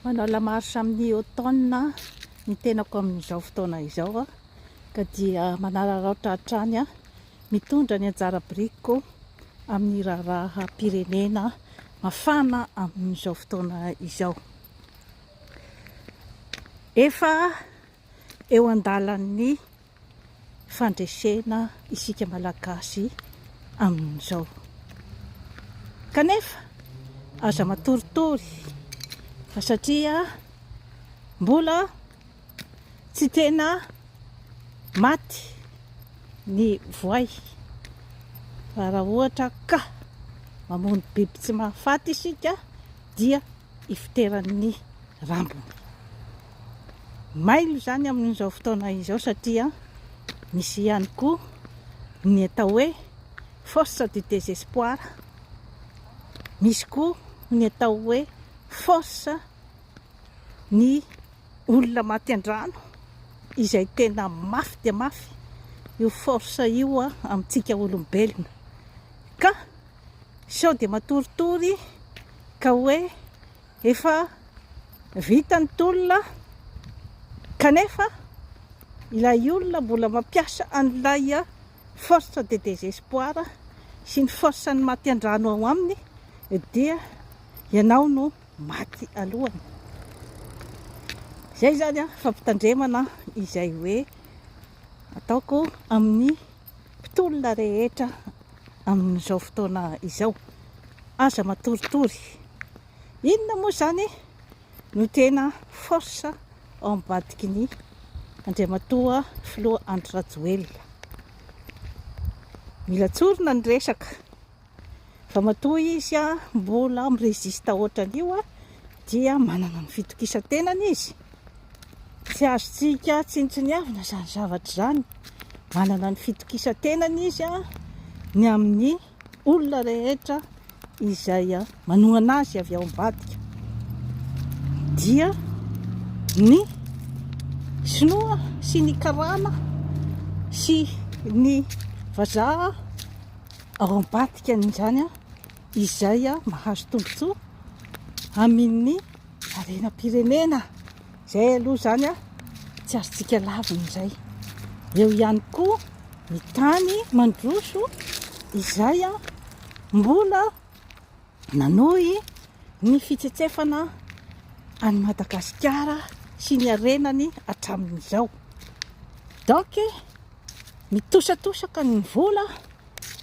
Manao la marche amin'ny automne ny tenako amin'izao fotoana izao aho ka dia manararaotra hatrany aho mitondra ny anjara birikiko amin'ny raharaham-pirenena mafana amin'izao fotoana izao. Efa eo andalan'ny fandresena isika Malagasy amin'izao. Kanefa aza matoritory fa satria mbola tsy tena maty ny voay fa raha ohatra ka mamono biby tsy mahafaty isika dia ifoteran'ny rambony. Mailo izany amin'izao fotoana izao satria misy ihany koa ny atao hoe force du désespoir, misy koa ny atao hoe force ny olona maty an-drano izay tena mafy dia mafy io force io amintsika olombelona ka sao dia matoritory ka hoe efa vita ny tolona kanefa ilay olona mbola mampiasa an'ilay force de désespoir sy ny force ny maty an-drano ao aminy dia ianao no maty alohany izay zany a fampitandremana izay hoe ataoko amin'ny mpitolona rehetra amin'izao fotoana izao. Aza matoritory. Inona moa izany no tena force ao ambadiky ny Andriamatoa Filoha Andry Rajoelina. Mila tsorina ny resaka. Ramatoa izy mbola mi resiste otran'io dia manana ny fitokisan-tenany izy. Tsy azontsika tsinontsiniavina izany zavatra izany. Manana ny fitokisan-tenany izy ny amin'ny olona rehetra izay manohana azy avy ao ambadika. Dia ny sinoa sy ny karana sy ny vazaha ao ambadikany izany izay mahazo tombontsoa amin'ny harenam-pirenena izay aloha izany tsy azontsika lavina izay eo ihany koa ny tany mandroso izay mbola nanohy ny fitsetsefana any Madagasikara sy ny harenany hatramin'izao donc Mitosatosaka ny vola,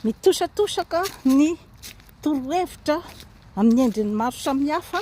mitosatosaka ny torohevitra amin'ny endriny maro samihafa.